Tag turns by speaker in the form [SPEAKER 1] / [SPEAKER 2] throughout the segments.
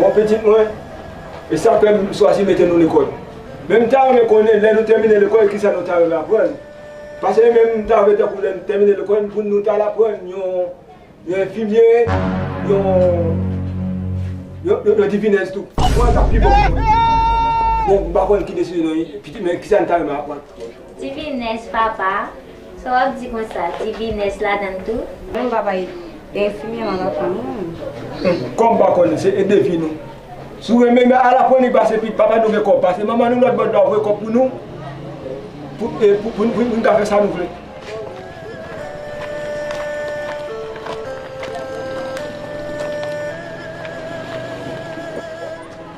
[SPEAKER 1] Bon pitit mwen, e sa fè m chwazi mete nou lekòl. Men m ta renmen konnen lè nou tèmine lekòl ki sa nou ta renmen aprann. Pase men m ta vle tankou lè nou tèmine lekòl pou nou ta al aprann yon enfimye, yon divinèz tou. Bon, m pa konn ki desizyon, men ki sa nou ta renmen aprann. Divines
[SPEAKER 2] papa sa wap di konsa divines ladann tou. Bon papa
[SPEAKER 3] e infimyè lan la fanm wi. Kòm pa konnen se
[SPEAKER 1] e defi nou sou renmen men ala pwen li pase pi papa nou gen kòb pase manman nou lòt bò dwa voye kòb pou nou poun ka fè sa nou vle.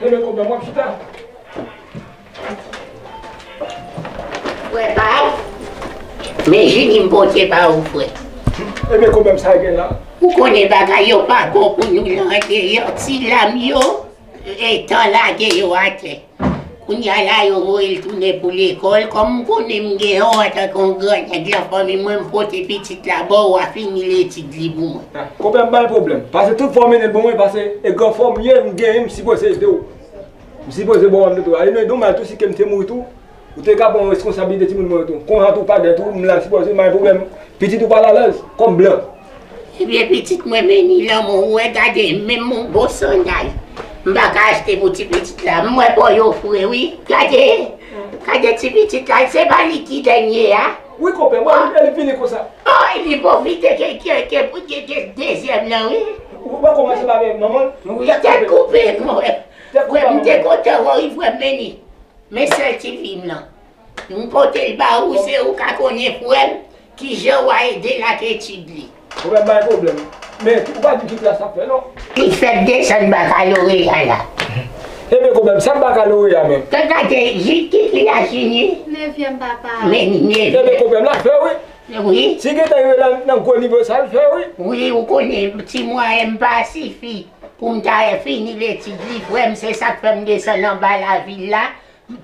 [SPEAKER 4] Leve kòb la, m ap chita. Frè pa w, men jini m pote ba ou frè. Enben kòbèm
[SPEAKER 1] sa gen la. Ou konnen bagay
[SPEAKER 4] yo pa bon pou nou nan deyò ti lam yo etan lage yo atè. Kounya la yo voye l tounen pou lekòl, kòm m konnen m gen yon antanke yon grannèg lan fanmi mwen m pote pitit la ba w wa fini letid li pou mwen. Konpè m bay pwoblèm,
[SPEAKER 1] pase tout fwa w mennen l pou mwen pase e gran fò m ye m genyen m sipoze ede w, m sipoze ba w anpil twa e nou ede w mal tou si ke m te mouri tou ou te ka pran reskonsablite timoun mwen yo tou konha tou pa gen tou m la sipoze m bay pwoblèm pitit ou pa l alèz kòm blan. Ebyen
[SPEAKER 4] pitit mwen meni lanmou ou wè gade menm yon bon sandal m paka achte pou ti pitit la m wè bon yo fre wi gade gade ti pitit la se pa li ki dènye a Wi konpè mwen renmen
[SPEAKER 1] li fini konsa. Oh epi pwofite
[SPEAKER 4] ke ke pou gen gen dezyèm nan wi. Ou pa komanse pa
[SPEAKER 1] avèk manman l. Wi tèt koupe
[SPEAKER 4] mwen wè. Mwen m te kontan wè w wi frè m Meni men sèl ti fi m lan. M pote l ba ou se ou ka konnen pou el kijan wa ede l ak etid li. Ou pral bay
[SPEAKER 1] pwoblèm. Men ou pa di ki klas lap fè non. Li fèt desann
[SPEAKER 4] bakaloreya la. E men konbèm
[SPEAKER 1] sa bakaloreya menm. Tèt la te jis ki
[SPEAKER 4] li a fini. Nevyèm papa.
[SPEAKER 2] Men nevyèm. E men
[SPEAKER 4] konbèm la
[SPEAKER 1] fè wi. Wi. Si gentan yo
[SPEAKER 4] la nan
[SPEAKER 1] gwo nivo sa l fè wi. Wi ou konnen
[SPEAKER 4] ti mwayen m pa sifi pou m ta fini l etid li frè m se sak fè m desann anba lavil la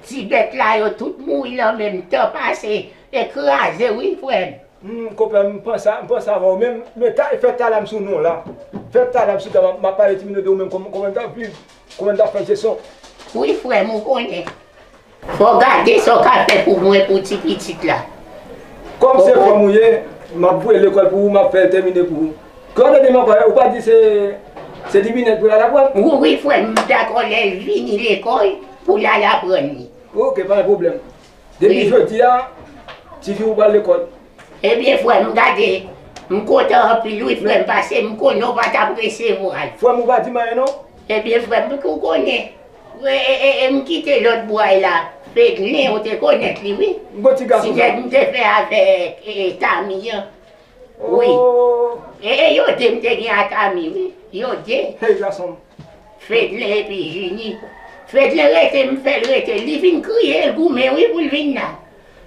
[SPEAKER 4] Ti bèt la yo tout mouri nan menm tan pase e kraze wi frèm. M konprann m
[SPEAKER 1] pansa m panse avèw menm men ta fè tala m sou non la fè tala m sou ta map pale ti minit de ou menm kòman kòman n tap viv kòman n tap fè se son. Wi frèm
[SPEAKER 4] ou konnen fò gade sa w ka fè pou mwen pou ti pitit la. Kòm
[SPEAKER 1] se frèm ou ye map voye lekòl pou ou map fè l tèmine pou ou. Kòm se te manman yo, ou pa di se se di binèg pou lala aprann? Wi wi frè m, m
[SPEAKER 4] dakò lè l vini lekòl pou l al aprann li. Ok pa gen pwoblèm.
[SPEAKER 1] Depi jodi a ti fi ou pral lekòl. Ebyen frè
[SPEAKER 4] m gade, m kontan anpil wi frè m pase m konnen w pa t ap resevwa l. Frè m ou pa di m
[SPEAKER 1] anyen non. Ebyen frè m
[SPEAKER 4] pou w konnen, e m kite lòt bway la, Fedlin ou te konèt li wi, ti nèg m te fè avèk Tamy an. Wi e e yon de m te gen ak Ami wi yon de. Hey gason m.
[SPEAKER 1] Fedlin
[SPEAKER 4] epi Junie. Fedlin rete m fè l rete li vin kriye l goumen wi pou l vin la.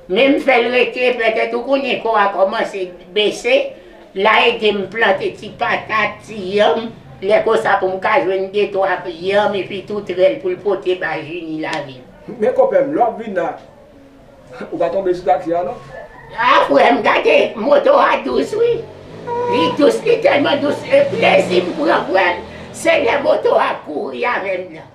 [SPEAKER 4] Men m fè l rete pètèt ou konnen kò a kòmanse bese la ede m plante ti patat ti yanm lè konsa pou m ka jwenn de twa yanm epi toutrèl pou l pote bay Junie lavi. Men konpè m lè w ap
[SPEAKER 1] vin la. Ou pa tonbe sou taxi a non. Ah frèm
[SPEAKER 4] gade moto a dous wi li dous li tèlman dous e plezi m pran frèm se lè moto a kouri avèm nan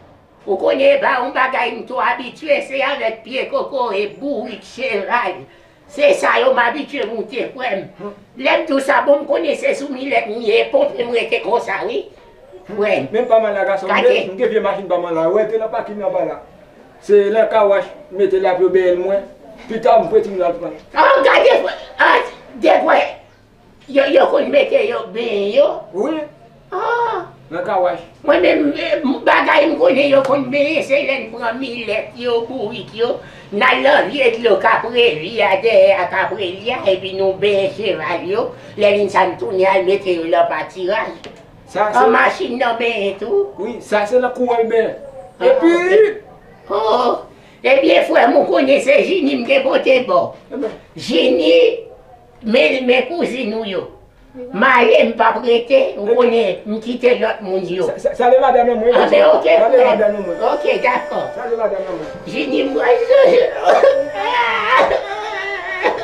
[SPEAKER 4] ou konnen epa yon bagay m two abitye se avèk pye kokoye bourik cheval se sa yo m abitye moute frèm lèm di w sa bon m konnen se sou milèt m ye konprann m rete konsa wi
[SPEAKER 1] frèm gade. Se nan car wash m mete l apre bèèl mwen, pita
[SPEAKER 4] m prete
[SPEAKER 1] m lal pran.
[SPEAKER 4] An
[SPEAKER 1] gade an degwe
[SPEAKER 4] yo konn mete yo benyen yo. Wi nan car wash.
[SPEAKER 1] Mwen menm
[SPEAKER 4] bagay m konnen yo konn benyen se lè n pran milèt yo, bourik yo, n al nan vye dlo kaprevi a dèyè a kapreli a epi nou benyen cheval yo, lè vin sa n tounen al mete yo lan patiraj. An
[SPEAKER 1] machin nan benyen
[SPEAKER 4] tou? Wi, sa se nan kou
[SPEAKER 1] wèl benyen. Epi.
[SPEAKER 4] Oh! Ebyen frè m ou konnen se Jini m te pote ba w. Jini men men kouzin ou yo. M ale m pa p rete ou konnen m kite lòt moun yo. Salye madanm lan mwen.
[SPEAKER 1] Anben ok frè m. Ok dakò. Salye
[SPEAKER 4] madanm
[SPEAKER 1] lan
[SPEAKER 4] mwen.
[SPEAKER 1] Jini m pral.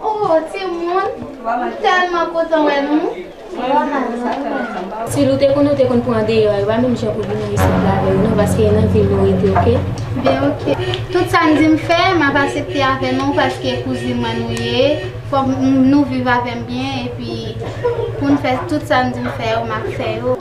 [SPEAKER 5] Oh timoun m telman kontan wè nou.
[SPEAKER 6] Si nou te konn nou te konn pran deyò epa menm jan pou vin nan isit la avèm non paske e nan vil nou rete ok. Bien ok.
[SPEAKER 5] Tout sa n di m fè map asepte avè nou paske kouzin mwen nou ye fòk nou viv avèm byen epi pou n fè tout sa n di m fè yo map fè yo.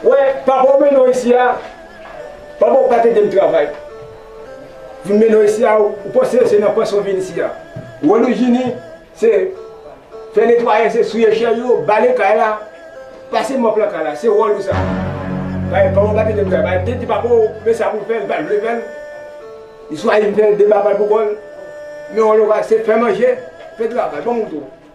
[SPEAKER 1] Wè papa ou mennen w isi a, papa ou pa te edem travay. Vin mennen w isi a, ou panse se nan panse ou vin isi a. Wòl ou Jini se fè netwaye, se souye chè yo, bale kay la, pase mòp lan kay la. Se wòl ou sa. Paske papa ou pa te edem travay. Li te di papa ou men sa pou l fè, li pa t vle fè l. Li chwazi vin fè l deba pa l pou kò l. Men wòl ou a se fè manje, fè travay, banm kouto.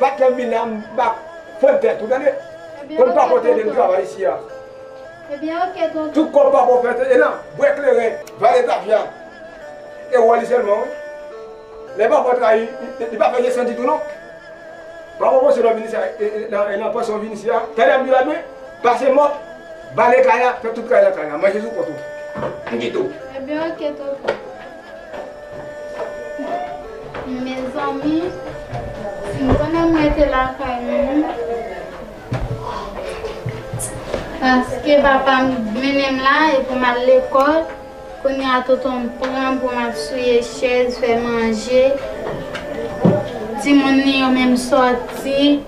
[SPEAKER 1] Pat nan min nan mpa k prann tèt ou tande Konn papa w te ede n travay isi a
[SPEAKER 5] Tout kòb papa w fè te ye
[SPEAKER 1] nan bwè kleren Vale tafya E wòl li sèlman wi Lè papa w trayi li pa fè jesyon ditou non Papa w panse nan vin isi a e nan panse w vin isi a Tande Abdoul la byen Pase mòp Bale kay la Fè tout kay la kay la Manje sou kont ou Mkite w.
[SPEAKER 5] Mezanmi si nou konnen m rete lakay mwen paske papa m mennen m la e pou m al lekòl kounye a tonton m pran m pou m ap souye chèz, fè manje timoun li yo menm sòti.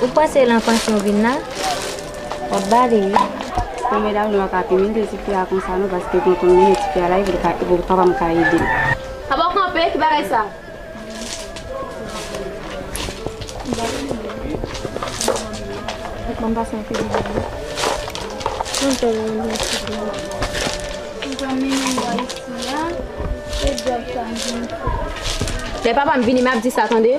[SPEAKER 3] Ou
[SPEAKER 2] kwè se lan panch nou vin nan? Wap bale wi. Bon medam nou
[SPEAKER 3] paka pimen de tifi a konsa non paske gen konn moun e tifi a la epi li paka pa ka edel. Aba kanpe ki bagay sa. Lè papam vini map di sa tande.